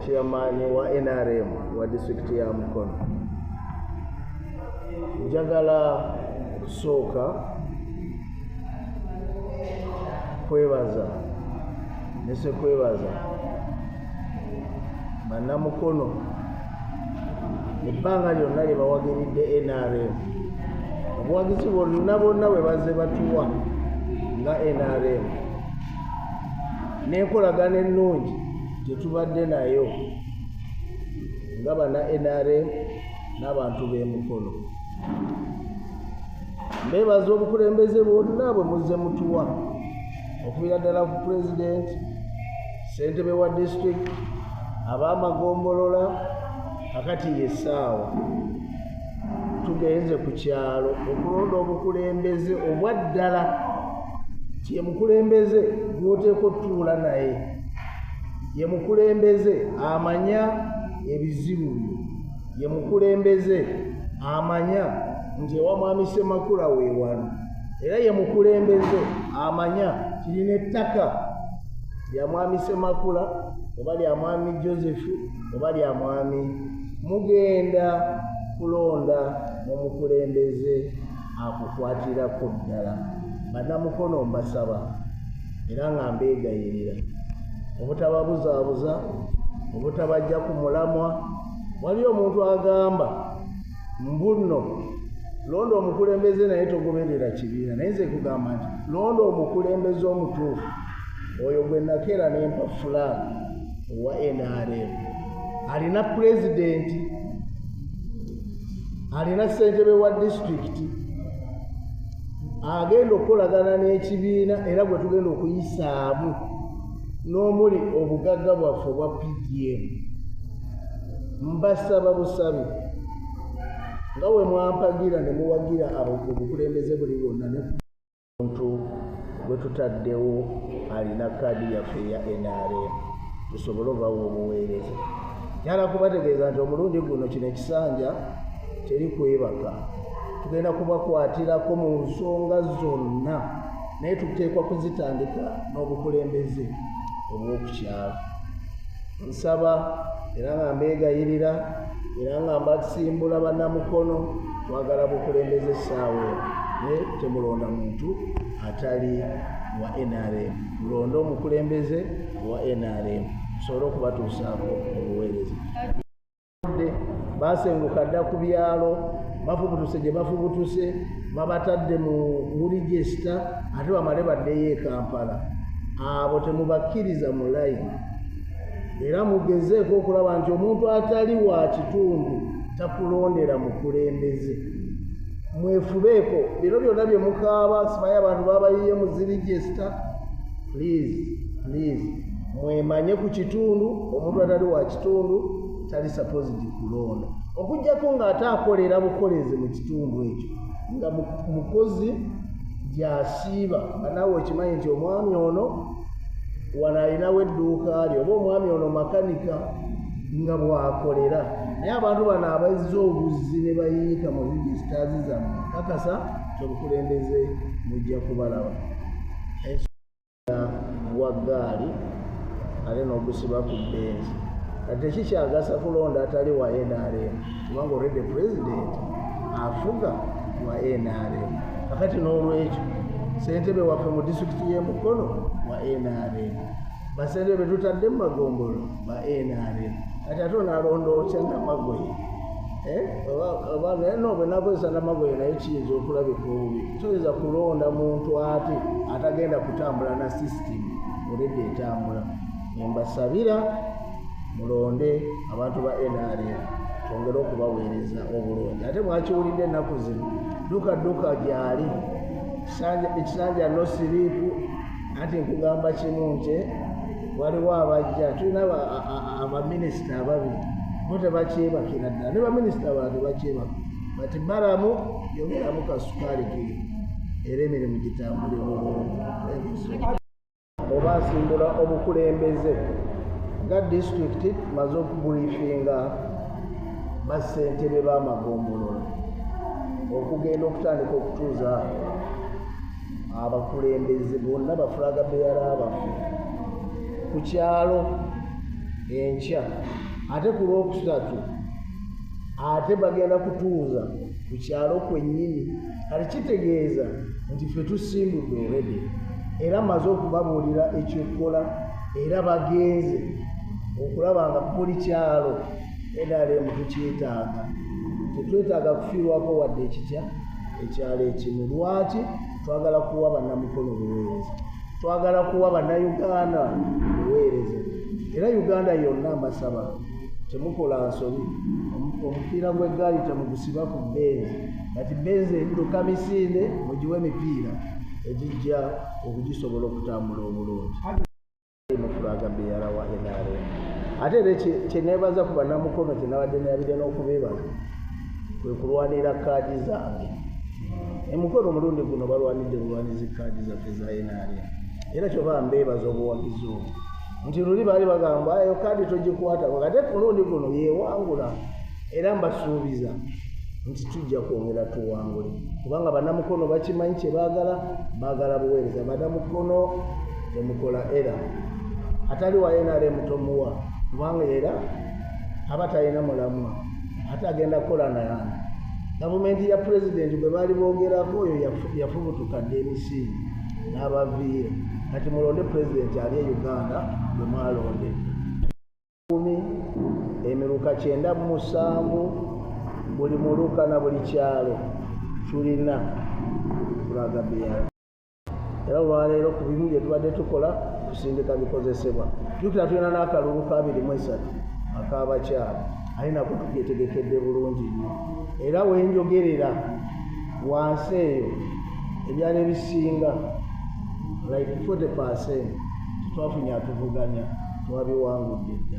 chairman wa nrm wa district ya mukono njagala okusooka kwebaza nese kwebaza banamukono ebbanga lyonna lye bawagiridde nrm obuwagizi bwonna bwonna bwe bazze batuwa nga nrm n'enkolagana ennungi gyetubadde nayo nga bana nrm n'abantu b'emikono mbeebaza obukulembeze bwonna bwe muzze mutuwa okubira ddala ku pulezidenti ssentebe wa disitulikiti ab'amagombolola kakati yessaawa tugenze ku kyalo okulonda obukulembeze obwaddala ye mukulembeze gwoteeka otuula naye ye mukulembeze amanya ebizibu byo ye mukulembeze amanya nti ewa mwami semakula weewano era ye mukulembeze amanya kirina ettaka lya mwami semakula oba lya mwami josephu oba lya mwami mugenda kulonda mu mukulembeze akukwatirako ddala banamukono mbasaba era nga mbeegayirira obutababuzaabuza obutabajja ku mulamwa waliyo omuntu agamba mbunno londa omukulembeze naye togoberera kibiina naye nze kugamba nti londa omukulembeze omutuufu oyo gwe nakeera nempa fulaani owa nrm alina pulezidenti alina ssentebe wa disitulikiti agenda okukolagana n'ekibiina era gwe tugenda okuyisaamu n'omuli obugagga bwaffe obwa pdm mbasaba busabi nga we mwampagira ne muwagira obukulembeze buli bwonna omuntu gwe tutaddewo alina kaadi yaffe eya nrm tusobole obawa obuweereza nyala kubategeeza nti omulundi guno kino ekisanja teri kwebaka tugenda kubakwatirako mu nsonga zonna naye tuteekwa kuzitandika n'obukulembeze obw'okukyalo nsaba era nga mbeegayirira era nga mbasimbula bannamukono twagala bukulembeze essaawa eno naye temulonda muntu atali wa nrm mulonde omukulembeze wa nrm tusobole okubatuusaako obuweereza baasenguka dda ku byalo bafubutuse gye bafubutuse babatadde mu nguli gyesita ate bamale baddeyo e kampala abo temubakkiriza mu layini era mugezeeko okulaba nti omuntu atali wa kitundu takulondera mukulembeze mwefubeeko bino byonna bye mukaaba simanyi abantu babayiye muziri gyesita please please mwemanye ku kitundu omuntu atali wa kitundu tali supposed kulonda okujjako ng'ate akolera bukolezi mu kitundu ekyo nga mukozi gyasiiba nga nawe okimanyi nti omwami ono wano alinawo edduuka lye oba omwami ono makanika nga bwakolera naye abantu bano abazza obuzzi ne bayiika mu regisitaazi zammwe kakasa kyobukulembeze mujja kubalaba wa gaali ate n'ogusiba ku benzi kati ekikyagasa kulonda atali wa nrm kubanga olwedde pulezidenti afuga wa nrm kakati n'olwekyo sentebe waffe mu disitulikiti y'emukono wa nrm basente betutadde mu magombolo ba nrm kati ate onalonda otya namagoye eh? oba naye no bwenakozesa namagoye naye kiyinza okulabika obubi toyinza kulonda muntu ate atagenda kutambula na system olede etambula embasabira mulonde abantu ba nrm twongere okubaweereza obulungi ate mwakiwulidde ennaku zino duka duka gyali ekisanja nosiriiku anti nkugamba kimu nti waliwo abajja tulina abaminisita ababiri bo tebakyebakira ddala ne baminisita bala tebakyebaka but baramu yogeramu kasukaali ke era emirimu gitambule bulungi oba asimbula obukulembeze nga disitulikiti maze okubulifinga bassentebe b'amagombolola okugenda okutandika okutuuza abakulembeze bonna bafulaga beyala baffe ku kyalo enkya ate ku lwokusatu ate bagenda kutuuza ku kyalo kwennyini kati kitegeeza nti ffe tusimbudde olwedde era maze okubabuulira ekyokukola era bagenze okulaba nga buli kyalo nrm tukyetaaga tetwetaaga kufiirwako wadde ekitya ekyalo ekimu lwaki twagala kuwa bannamukono buweereza twagala kuwa bannayuganda buweereza era uganda yonna mbasaba temukola nsobi omupiira gw'eggaali temugusiba ku benzi kati benzi ebiduka misinde mugiwe emipiira egijja okugisobola okutambula obulungi mufulaga beyara wa nrm ate era kyenebaza ku banamukono kyenabadde nabire n'okubeebala kwe kulwanira kaadi zange emukono omulundi guno balwanidde bulwanizi kaadi zaffe za nrm era kyoba mbeebaza obuwagizi obwo nti luli baali bagamba eyo kaadi togikwatako kate kulundi guno yewangula era mbasuubiza nti tujja kwongera tuwangule kubanga banamukono bakimanyi kyebaagala baagala buweereza banamukono gyemukola era atali wa nrm tomuwa kubanga era aba talina mulamwa ate agenda kukola nayana gavumenti ya pulezidenti bwe baali boogerako oyo yafubutuka dda emisingi n'abaviire kati mulonde pulezidenti ali e uganda bwe mwalonde kumi emiruka kyenda mu musanvu buli muluka na buli kyalo tulina kulaga beyali era olwaleero ku bimu bye tubadde tukola kusindika bikozesebwa jukira tulina n'akalulu ka abiri mu esatu ak'abakyala aye nako tukyetegekedde bulungi nnyo era wenjogerera wansi eyo ebyalo ebisinga like 40 percent twafunye atuvuganya twabiwangudde dda